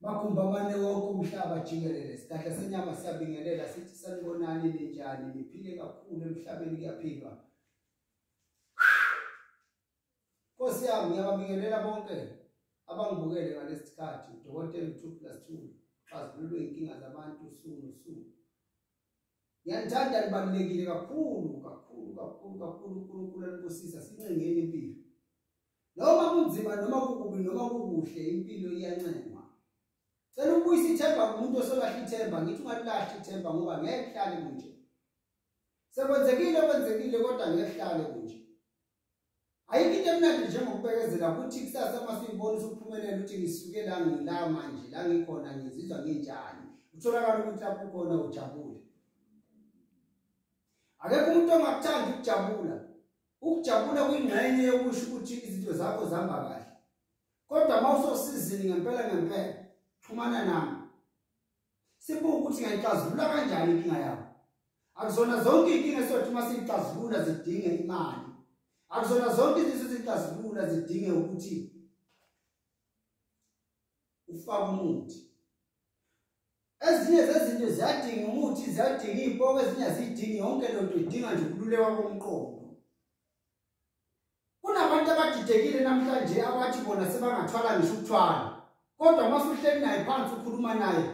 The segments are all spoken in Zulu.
Makhumba mane wonke umhlaba jikelele sidakhe senyama siyabingelela sithi sanibonani ninjani niphile kakhulu emhlabeni kuyaphilwa Nkosi yami ngiyababingelela bonke abangibukele ngalesikhathi udokotela uThuphila Sithuli xazululwe inkinga zabantu usuku nosuku Ngiyanithanda libalulekile kakhulu kakhulu kakhulu kakhulu uNkulunkulu alibusisa sincengeni impilo. Noma kunzima noma kukubi noma kukuhle impilo iyancengwa. Cela ukubuyisa ithemba kumuntu osolahle ithemba ngithi ungalilahle ithemba ngoba ngeke hlale kunje. Sekwenzekile kwenzekile kodwa ngeke hlale kunje. Ayikho into emnandi njengokubekezela ukuthi kusasa uma siyibona usuphumelela ukuthi ngisuke la ngila manje la ngikhona ngizizwa nginjani utholakala ukuthi lapho ukhona ujabule akekho umuntu ongakuthandi ukujabula ukujabula kuyingxenye yokusho ukuthi izinto zakho zihamba kahle kodwa uma usosizini ngempela ngempela xhumana nami Sibuka ukuthi ngayixazulula kanjani inkinga yakho. Akuzona zonke inkinga esothi uma siyixazulula zidinge imali. Akuzona zonke izinto ezixazulula zidinge ukuthi ufake umuthi. Ezinye zezinto ziyadinga umuthi, ziyadinga impoko, ezinye azidingi yonke lento idinga nje ukululeka komqondo. Kunabantu abadidekile namhlanje abathi bona sebangathwala ngisho ukuthwala. Kodwa uma usuhleli naye phansi ukhuluma naye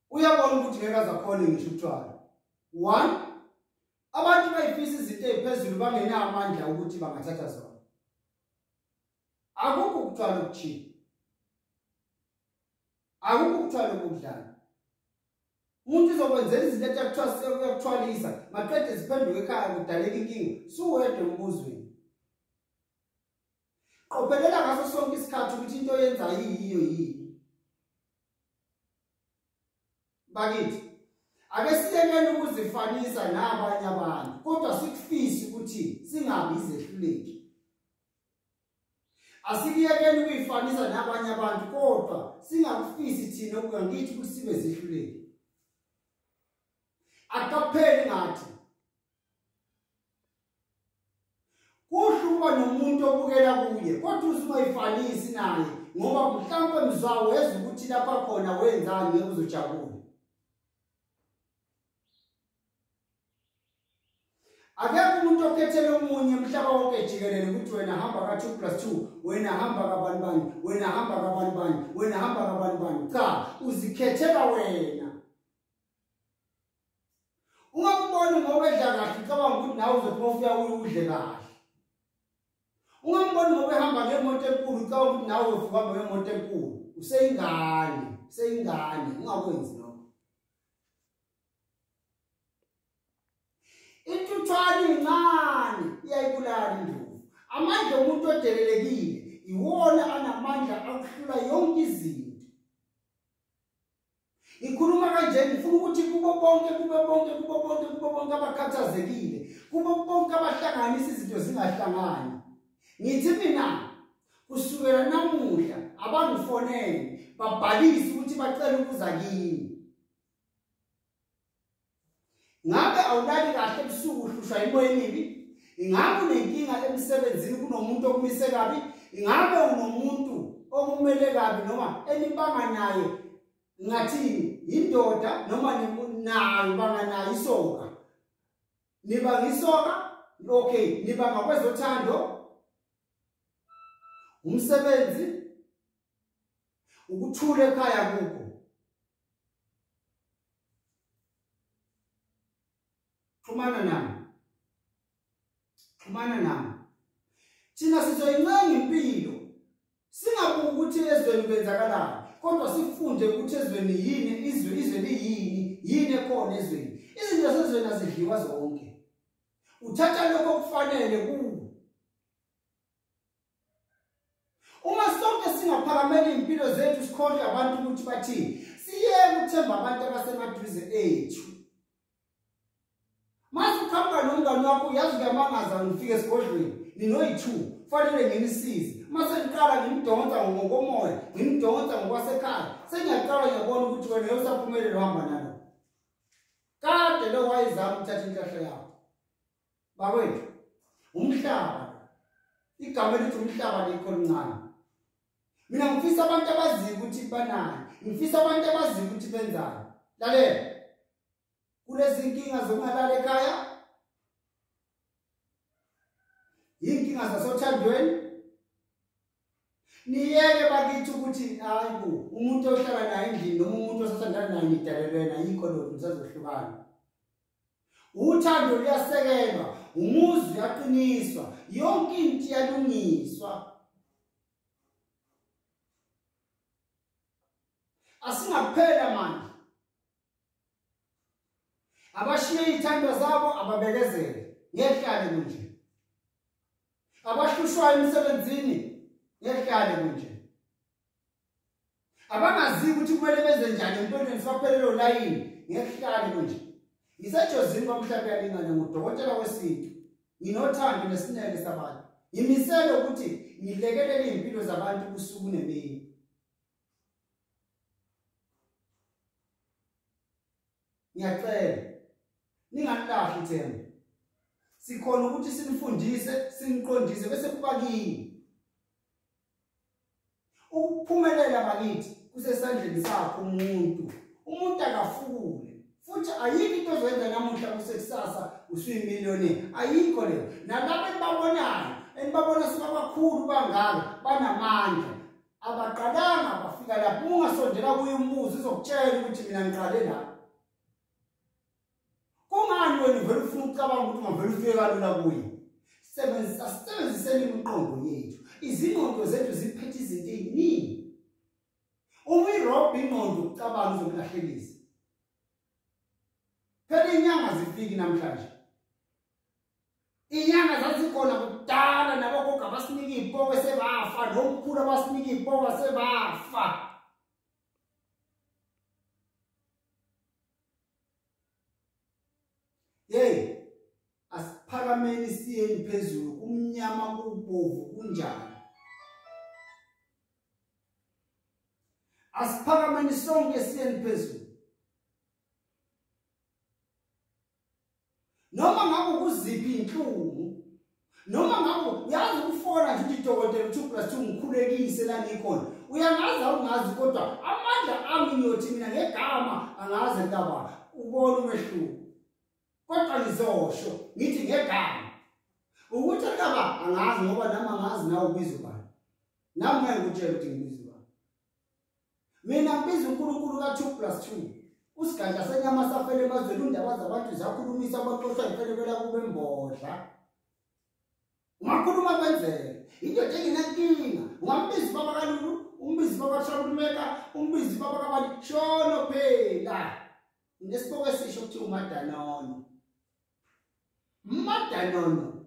uyabona ukuthi ngeke azakhona ngisho ukuthwala. 1 Abantu bayifisa izinto eziphezulu bangenawo amandla ukuthi bangathatha zona. Akukho ukuthwala okuthile. Akukho ukuthwala okudlala. umuntu uzokwenzela izinto ethi akuthiwa sekuyakuthwalisa maqede ziphenduke ekhaya kudaleka inkinga suwedwa embuzweni qophelela ngaso sonke isikhathi ukuthi into yenza yiyo yini bakithi ake siyekele ukuzifanisa nabanye abantu kodwa sikufise ukuthi singabi izehluleki Asikuyekeni ukuyifanisa nabanye abantu kodwa singakufisi thina ukuya ngithi ukuthi sibe zihluleki. Akapheli ngathi. Kuhle ukuba nomuntu obukela kuye kodwa usumayifanisi naye ngoba mhlawumbe mzwawo weza ukuthi lapha khona wenzani ngeke uzojabula. akekho umuntu okhethele omunye umhlaba wonke jikelele ukuthi wena hamba ka-two plus two wena hamba kabani bani wena hamba kabani bani wena hamba kabani bani cha uzikhethela wena uma kubona ngobedla kahle ucabanga ukuthi nawe uzophuma ufika uye udle kahle uma kubona ngobehamba ngemoto enkulu ucabanga ukuthi nawe uzofuka hamba ngemoto enkulu useyingane useyingane ungakwenzi Intuthwane incane iyayibulala induku. Amandla omuntu odelelekile iwona anamandla akuhlula yonke izinto. Ngikhuluma kanje ngifuna ukuthi kubo bonke kubo bonke kubo bonke kubo bonke abakhathazekile, kubo bonke abahlanganisa izinto zingahlangani. Ngithi mina kusukela namuhla abangifonele babhalise ukuthi bacela ukuza kimi. ngabe awulali kahle ebusuku uhlushwa imoya emibi ingabe unenkinga emsebenzini kunomuntu okumise kabi ingabe unomuntu okumele kabi noma enibanga naye ngathini yindoda noma nayo banga nayo isoka niba ngisoka okay niba ngakwezothando umsebenzi ukuthula ekhaya kukho xhumana nami xhumana nami thina sizoyincenga impilo singabuki ukuthi ezweni kwenzakalani kodwa sifunde ukuthi ezweni yini izwe izwe liyini yini ekhona ezweni izinto zezweni azidliwa zonke uthatha lokho okufanele kuwe Uma sonke singaphakamela impilo zethu sikhohle abantu ukuthi bathini, siyeke uthemba abantu abasemaduze ethu. Mase ukhamba nomngane wakho uyazi kuyamangaza ngifike esigodlweni, ninoyi-two, kufanele ngimsize. Mase ngiqala ngimdonsa ngokomoya, ngimdonsa ngokwasekhaya, sengiyaqala ngiyabona ukuthi wena usaphumelele uhamba nalo. Kade lo wayezama ukuthatha inhlahla yakho. bakwethu umhlaba igama elithi umhlaba likho lincane mina ngifisa abantu abaziyo ukuthi banani ngifisa abantu abaziyo ukuthi benzani lalela kulezi nkinga zokungalala ekhaya yinkinga zasothandweni niyeke bakithi ukuthi hayi bo umuntu ohlala naye endlini noma umuntu osathandana naye nidalelwena yikho lokhu nisazohlukana uthando luyasekelwa umuzi uyaqiniswa yonke into iyalungiswa asingaphela manje abashiye ithando zabo ababekezele ngehlale kunje abahlushwayo emsebenzini ngehlale kunje abangaziyo ukuthi kumele benze njani emntwaneni sibaphelele olayini ngekuhlale konje ngisejozini kwamhlawumbe yalingane ngudokotela wesintu nginothando nesineke sabantu ngimisele ukuthi ngilekelele iy'mpilo zabantu kusuku nemini ngiyacela ningalilahli ithemba sikhona ukuthi sinifundise siniqondise bese kuba kini Ukuphumelela bakithi kusesandleni sakho umuntu. Umuntu akafukule futhi ayikho into ozoyenza namuhla kusekusasa usuyimiliyoni ayikho leyo nalabo enibabonayo enibabona sebabakhulu bangaka banamandla abaqalanga bafika lapho ungasondela kuye umbuzo uzokutshela ukuthi mina ngiqale lapho kungani wena uvele ufuna ukucabanga ukuthi ungavele ufike kalula kuye sebenzisa sisebenziseni imiqondo yethu izingqondo zethu ziphethe izinto eziningi uma irobha ingqondo ucabanga uzokulahlekisa phela inyanga zifiki namhlanje inyanga zazikhona kudala nabogogo abasinika iy'poke sebafa nomkhulu abasinika iy'poke sebafa hey asiphakameni siyeni phezulu kumnyama kubovu kunjani asiphakameni sonke siyeni phezulu noma ngabe ukuziphi inhlungu noma ngabe uyazi ukufona nje ukuthi dokotela uthi plus ungikhulekise la ngikhona uyangazi awungazi kodwa amandla ami ngiyothi mina ngegama angazi ntaba ubona umehluko kodwa ngizosho ngithi ngegama ukuthi ntaba angazi ngoba nami angazi nawe ubiza ubani nami ngeke ngikutshele ukuthi ngibiza mina ngibiza uNkulunkulu ka 2 plus 2 usigadla senyama safele emazweni undaba zabantu zakhulumisa abaxoshwa imfelekela kube mbodla ungakhuluma kwenzeke indoda engenankinga ungambizi baba kalulu umbizi baba shakulumeka umbizi baba kabani shono phela ngesiboko esisho ukuthi umadanono umadanono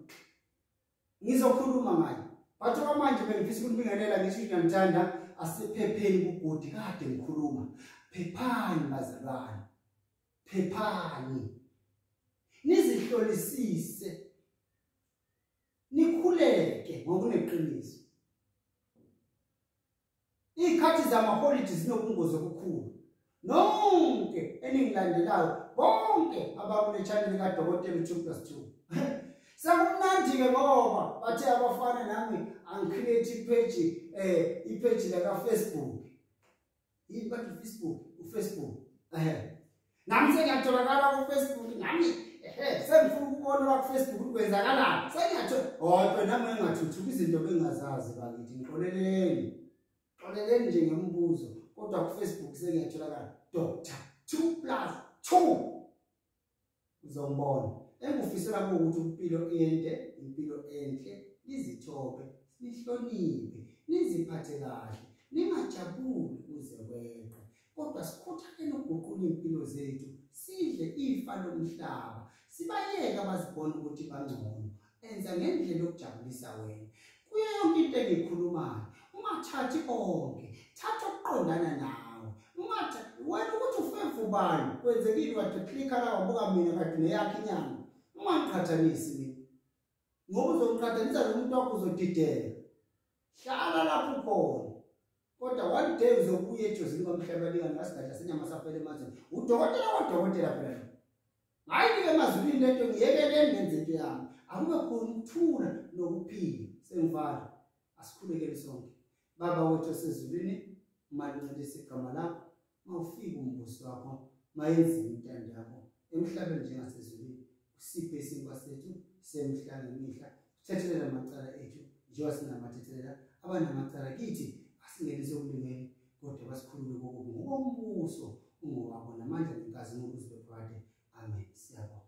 ngizokhuluma ngayo but okwamanje bengifisa ukunibingelela ngisho ukuthi nanithanda asiphepheni kugodi kade ngikhuluma phephani bazalwane phephani nizihlolisise nikhuleke ngokuneqiniso Iy'khathi zamaholidi zinobungozi obukhulu. Nonke eningilandelayo bonke abakule channel likaDokotela u2 plus 2. Sekumnandi-ke ngoba bathe abafana nami angicreate ipheji um eh, ipheji lakafacebook. Yini bathi ufacebook? Ufacebook. Ehhe. nami sengiyatholakala kufacebook nami ehe sengifuna ukubona kwafacebook ukwenzakalani sengiyathola kodwa nami engathuthuka izinto bengingazazi bakithi ngixoleleni xoleleni nje ngemibuzo kodwa kufacebook sengiyatholakala doctor two plus two uzombona engufisela ukuthi impilo ende impilo enhle izithobe nihloniphe niziphathe kahle ningajabuli kuze kweqe kodwa sikhuthalele ukuguqula impilo zethu sidle ifa lomhlaba sibayeke abazibona ukuthi bangcono enza ngendlela yokujabulisa wena kuyo yonke into engikhulumayo ungathathi konke thatha okuqondana nawe ungatha wena ukuthi ufevu ubani kwenzekile kade click la wabuka mina kade neyakhe inyanga ungaqhathanisi mina ngoba uzomqhathanisa nomuntu wakho uzodidela hlala lapho ukhona kodwa one day uzobuya ejozini kwamhlaba lingani ngasidadla senyama saphela emazini udokotela kodokotela phela ngayike emazulwini lento ngiyekeleni ngenze into yami akube khona ukuthula nokuphila sengivalo asikhulekele sonke baba wethu osezulwini umaluncelisa igama lakho mawufika umbusi wakho mayenzile intando yakho emhlabeni njengasezulwini usiphe isinkwa sethu semihla ngemihla sithethelela amacala ethu njengoba sinamathethelela abanamacala kithi asingenise okulungele kodwa basikhulule kokubi ngokombuso ungowabo namandla nenkazimulo uzibe phakade amen siyabonga